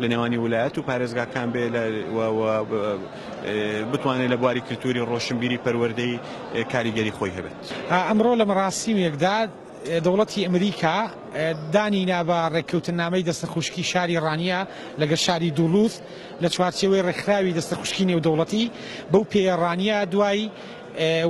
لە نێوانی ولایەت و پارێزگاکان بێ و بتوانێ لە بواری کلتوری ڕۆشنبیری پەروەردەی کاریگەری خۆی هەبێت. ئەمڕۆ لە مەڕاسیمێکدا دەوڵەتی ئەمریکا دانی نا بە ڕێککەوتننامەی دەستەخوشکی شاری ڕانیە لەگەر شاری دوڵوز لە چوارچێوەی ڕێکخراوی دەستەخوشکی نێودەوڵەتی، بەو پێیە ڕانیە دوای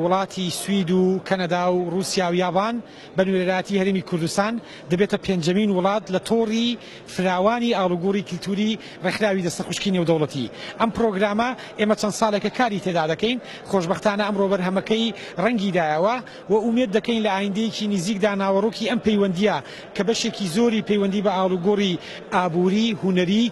وڵاتی سوید و کەنەدا و ڕوسیا و یابان، بە نوێنەرایەتی هەرێمی کوردستان، دەبێتە پێنجەمین وڵات لە تۆڕی فراوانی ئاڵوگۆڕی کلتووری ڕێکخراوی دەستەخوشکی نێودەوڵەتی. ئەم پڕۆگرامە ئێمە چەند ساڵێکە کاری تێدا دەکەین، خۆشبەختانە ئەمڕۆ بەرهەمەکەی ڕەنگی دایەوە و ئومێد دەکەین لە ئایندەیەکی نیزیکدا ناوەڕۆکی ئەم پەیوەندییە کە بەشێکی زۆری پەیوەندی بە ئاڵوگۆڕی ئابووری، هونەری،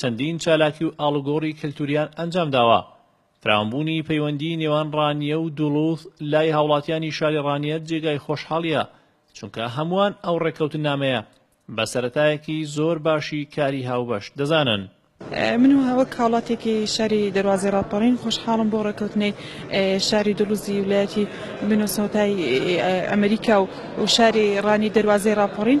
چەندین چالاکی و ئاڵوگۆڕی کەلتوریان ئەنجام داوە، فراوانبوونی پەیوەندی نێوان ڕانیە و دوڵوز لای هاوڵاتیانی شاری ڕانیە جێگای خۆشحاڵیە، چونکە هەمووان ئەو ڕێککەوتننامەیە بە سەرەتایەکی زۆر باشی کاری هاوبەش دەزانن. من و وەک هاوڵاتیەکی شاری دەروازەی ڕاپەڕین خۆشحاڵم بۆ ڕێککەوتنەی شاری دوڵوزی ولایەتی مینۆسۆتای ئەمریکا و شاری ڕانیە دەروازەی ڕاپەڕین،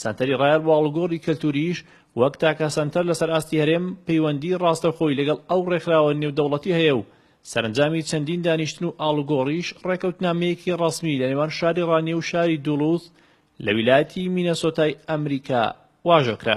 سەنتەری ڕایەڵ بۆ ئاڵوگۆڕی کەلتوورییش وەک تاکە سەنتەر لەسەر ئاستی هەرێم پەیوەندیی ڕاستەوخۆی لەگەڵ ئەو ڕێکخراوە نێودەوڵەتی هەیە و سەرەنجامی چەندین دانیشتن و ئاڵوگۆڕیش ڕێکەوتنامەیەکی ڕەسمی لە نێوان شاری ڕانیە و شاری دوڵوث لە ویلایەتی مینەسۆتای ئەمریکا واژۆ کرا.